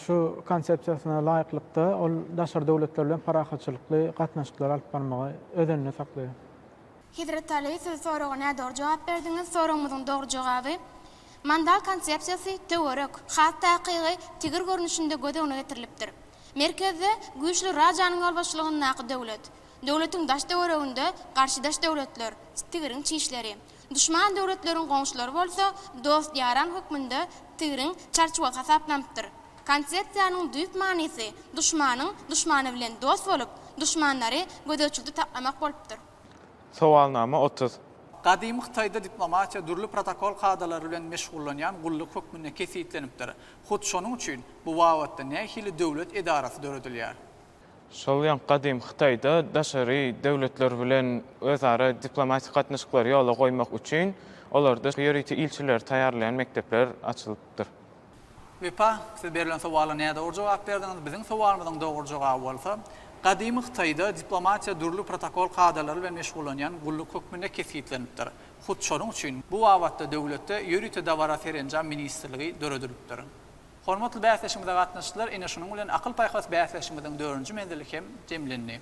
şu konsepsiýasyna laýyklykda, ol daşary döwletler bilen parahatçylykly gatnaşyklary alyp barmagy öz önünde saklaýar. Hezret Ali, siz soraga nädogry jogap berdiňiz. Soragymyzyň dogry jogaby, Mandal konsepsiýasy töwerek, has takygy, tigir görnüşinde göz öňüne getirilipdir. Merkezde güýçli rajanyň ýolbaşçylygyndaky döwlet. Döwletiň daş-töwereginde garşydaş döwletler, tigriň çişleri. Duşman döwletleriň goňşulary bolsa dost-ýaran hökmünde tigriň çarçuwagy hasaplanypdyr. Konsepsiýanyň düýp manysy duşmanyň duşmany bilen dost bolup, duşmanlary gözegçilikde saklamak bolupdyr. Sowalnama otuz. Gadymy Hytaýda diplomatiýa dürli protokol kadalary bilen meşgullanýan gulluk hökmünde kesgitlenipdir. Hut şonuň üçin bu babatda nähili döwlet edarasy döredilýär? Şol ýaňky gadymy Hytaýda daşary döwletler bilen özara diplomatik gatnaşyklary ýola goýmak üçin olarda ýörite ilçileri taýýarlaýan mekdepler açylypdyr. Wepa, siz berlen sowala nädogry jogap berdiňiz. Biziň sowalymyzyň dogry jogaby bolsa, gadymy Hytaýda diplomatiýa dürli protokol kadalary bilen meşgullanýan gulluk hökmünde kesgitlenipdir. Hut şonuň üçin bu babatda döwletde ýörite dabara-serenjam ministrligi döredilipdir. Hormatly bäsleşigimize gatnaşyjylar, ine şunuň bilen akyl-paýhas bäsleşigimiziň dördünji menzili hem jemlendi.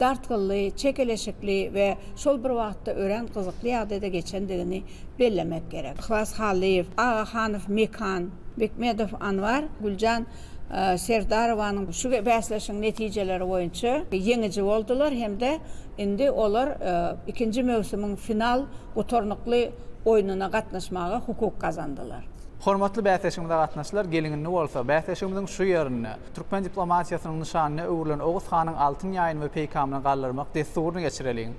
dartgynly, çekeleşikli we şol bir wagtda örän gyzykly ýagdaýda geçendigini bellemek gerek. Yhlas Hallyýew, Agahanow Mekan, Bekmedow Anwar, Güljan Serdarowanyň şu bäsleşigiň netijeleri boýunça ýeňiji boldular hem-de indi olar ikinji möwsümiň final gutarnykly oýnuna gatnaşmaga hukuk gazandylar. Hormatly bäsleşigimize gatnaşyjylar, gelin indi bolsa bäsleşigimiziň şu ýerinde, Türkmen diplomatiýasynyň nyşanyna öwrülen Oguz hanyň altyn ýaýyny we peýkamyny galdyrmak dessuryny geçireliň.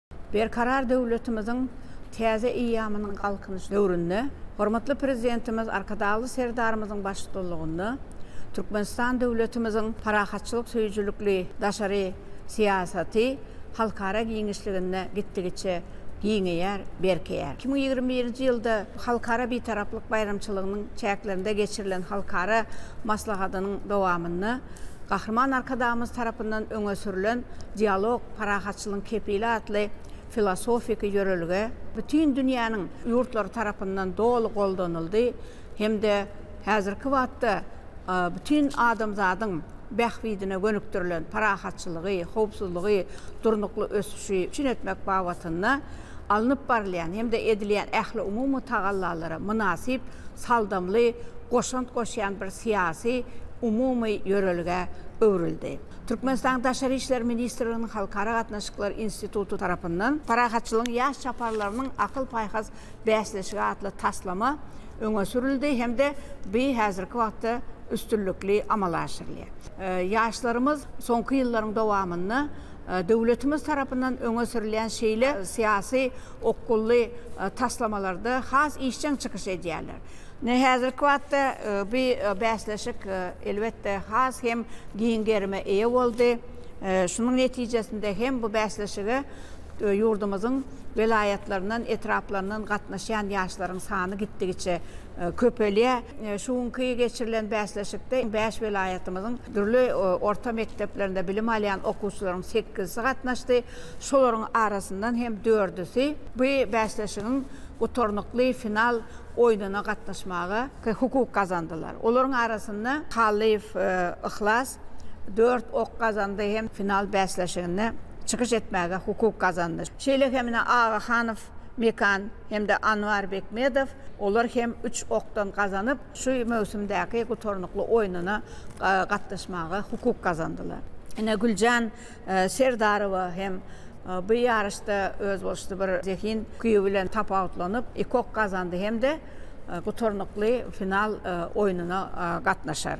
Berkarar döwletimiziň täze eýýamynyň Galkynyş döwründe hormatly Prezidentimiz Arkadagly Serdarymyzyň baştudalygynda Türkmenistan döwletimiziň parahatçylyk söýüjilikli daşary syýasaty halkara giňişliginde gitdigiçe giňeýär, berkeýär. Iki müň ýigrimi birinji ýylda Halkara Bitaraplyk baýramçylygynyň çäklerinde geçirilen halkara maslahatynyň dowamynda, Gahryman Arkadagymyz tarapyndan öňe sürlen Dialog, parahatçylygyň kepili atly filosofiki ýörelge bütin dünýäniň ýurtlary tarapyndan doly goldanyldy hem-de häzirki wagtda bütin adamzadyň bähbidine gönükdirilen parahatçylygy, howpsuzlygy, durnukly ösüşi üpjün etmek babatynda alnyp barylýan hem-de edilýän ähliumumy tagallalara mynasyp, saldamly goşant goşýan bir syýasy, umumy ýörelgä öwrüldi. Türkmenistanyň Daşary işler ministrliginiň Halkara gatnaşyklar instituty tarapyndan Parahatçylygyň ýaş çaparlarynyň akyl-paýhas bäsleşigi atly taslama öňe sürüldi hem-de bi häzirki wagtda üstünlikli amala aşyrylýar. Ýaşlarymyz soňky ýyllaryň dowamynda Döwletimiz tarapyndan öňe sürülýän şeýle syýasy okgunly taslamalarda has işjeň çykyş edýärler. Ine, häzirki wagtda bu bäsleşik, elbetde, has hem giň gerime eýe boldy. Şunuň netijesinde hem bu bäsleşige ýurdumyzyň welaýatlaryndan, etraplaryndan gatnaşýan ýaşlaryň sany gitdigiçe köpelýär. Şu günki geçirilen bäsleşikde bäş welaýatymyzyň dürli orta mekdeplerinde bilim alýan okuwçylaryň sekizisi gatnaşdy. Şolaryň arasyndan hem dördüsi bu bäsleşigiň gutarnykly final oýnuna gatnaşmaga hukuk gazandylar. Olaryň arasynda Hallyýew Yhlas dört ok gazandy hem final bäsleşiginde çykyş etmäge hukuk gazandy. Şeýle hem ine Agahanow Mekan hem-de Anwar Bekmedow, olar hem üç okdan gazanyp, şu möwsümdäki gutarnykly oýnuna gatnaşmaga hukuk gazandylar. Ine, Güljan Serdarowa hem bu ýaryşda özboluşly bir zehin ukyby bilen tapawutlanyp, iki ok gazandy hem-de gutarnykly final oýnuna gatnaşar.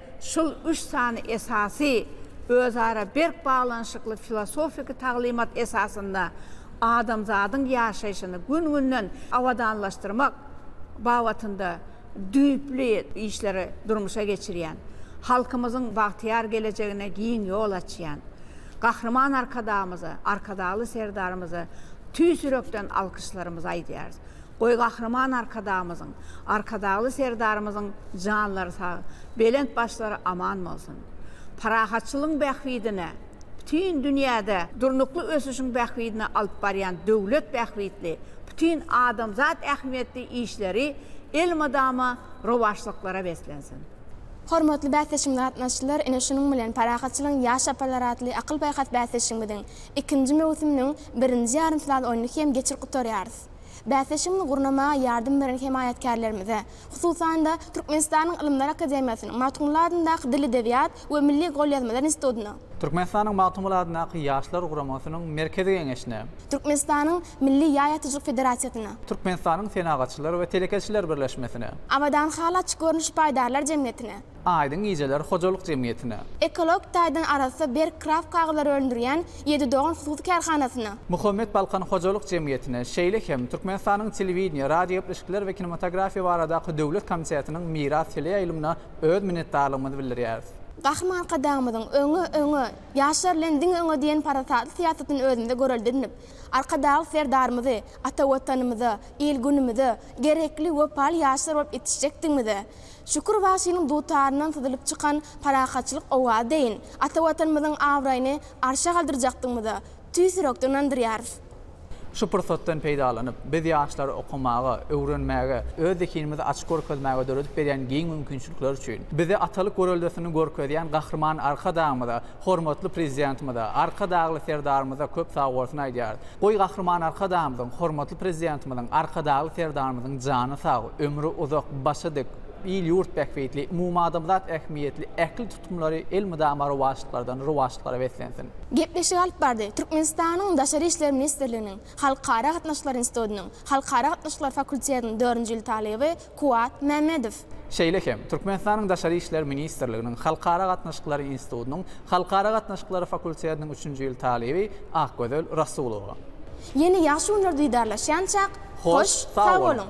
Şol üç sany esasy, özara berk baglanyşykly filosofiki taglymat esasynda adamzadyň ýaşaýşyny gün-günden abadanlaşdyrmak babatynda düýpli işleri durmuşa geçirýän, halkymyzyň bagtyýar gelejegine giň ýol açýan Gahryman Arkadagymyza, Arkadagly Serdarymyza tüýs ýürekden alkyşlarymyzy aýdýarys. Goý Gahryman Arkadagymyzyň, Arkadagly Serdarymyzyň janlary sag, belent başlary aman bolsun! Parahatçylygyň bähbidine, bütin dünýäde durnukly ösüşiň bähbidine alyp barýan döwlet bähbitli, bütin adamzat ähmiýetli işleri elmydama rowaçlyklara beslensin! Hormatly bäsleşigimize gatnaşyjylar, ine şunuň bilen Parahatçylygyň ýaş çaparlary atly akyl-paýhas bäsleşigimiziň ikinji möwsüminiň birinji ýarym final oýnuny hem geçirip gutarýarys. Bäsleşigimizi gurnamaga ýardam beren hemaýatkärlerimize, hususan-da, Türkmenistanyň Ylymlar akademiýasynyň Magtymguly adyndaky Dil edebiýat we milli golýazmalar institutyna, Türkmenistanyň Magtymguly adyndaky Ýaşlar guramasynyň Merkezi geňeşine, Türkmenistanyň Milli ýaý atyjylyk federasiýasyna, Türkmenistanyň Senagatçylar we telekeçiler birleşmesine, Abadan haly açyk görnüşli paýdarlar jemgyýetine, Aýdyň gijeler hojalyk jemgyýetine. Ekologik taýdan arassa berk kraft kagyzlary öndürýän Ýedi dogan hususy kärhanasyna. Muhammet Balkan hojalyk jemgyýetine, şeýle hem Türkmenistanyň Telewideniýe, radiogepleşikler we kinematografiýa baradaky döwlet komitetiniň Miras teleýaýlymyna öz minnetdarlygymyzy bildirýäris. Gahryman Arkadagymyzyň Öňe, öňe, ýaşlar bilen diňe öňe diýen parasatly syýasatyny özümizde görelde edinip, Arkadagly Serdarymyzy ata Watanymyza, il-günümize gerekli wepaly ýaşlar bolup ýetişjekdigimize, Şükür bagşynyň dutaryndan syzylyp çykan parahatçylyk owazy deýin, ata Watanymyzyň abraýyny arşa galdyrjakdygyňmyza tüýs ýürekden ynandyrýarys. Şu pursatdan peýdalanyp, biz ýaşlary okamaga, öwrenmäge, öz zehinimizi açyp görkezmäge döredip berýän giň mümkinçilikler üçin, bize atalyk göreldesini görkezýän Gahryman Arkadagymyza, hormatly Prezidentimize, Arkadagly Serdarymyza köp sagbolsun aýdýarys. Goý Gahryman Arkadagymyzyň, Hormatly Prezidentimiziň, Arkadagly Serdarymyzyň jany sag, ömri uzak, başy dik, il-ýurt bähbitli, umumadamzat ähmiýetli ähli tutumlary elmydama rowaçlyklardan rowaçlyklara beslensin! Gepleşik alyp bardy. Türkmenistanyň Daşary işler ministrliginiň Halkara gatnaşyklary institutynyň Halkara gatnaşyklary fakultetiniň dördünji ýyl talyby Kuwat Mämmedow. Şeýle hem, Türkmenistanyň Daşary işler ministrliginiň Halkara gatnaşyklary institutynyň Halkara gatnaşyklary fakultetiniň üçünji ýyl talyby Akgözel Rasulowa. Ýene ýagşy günler didarlaşýançak, hoş, sag boluň!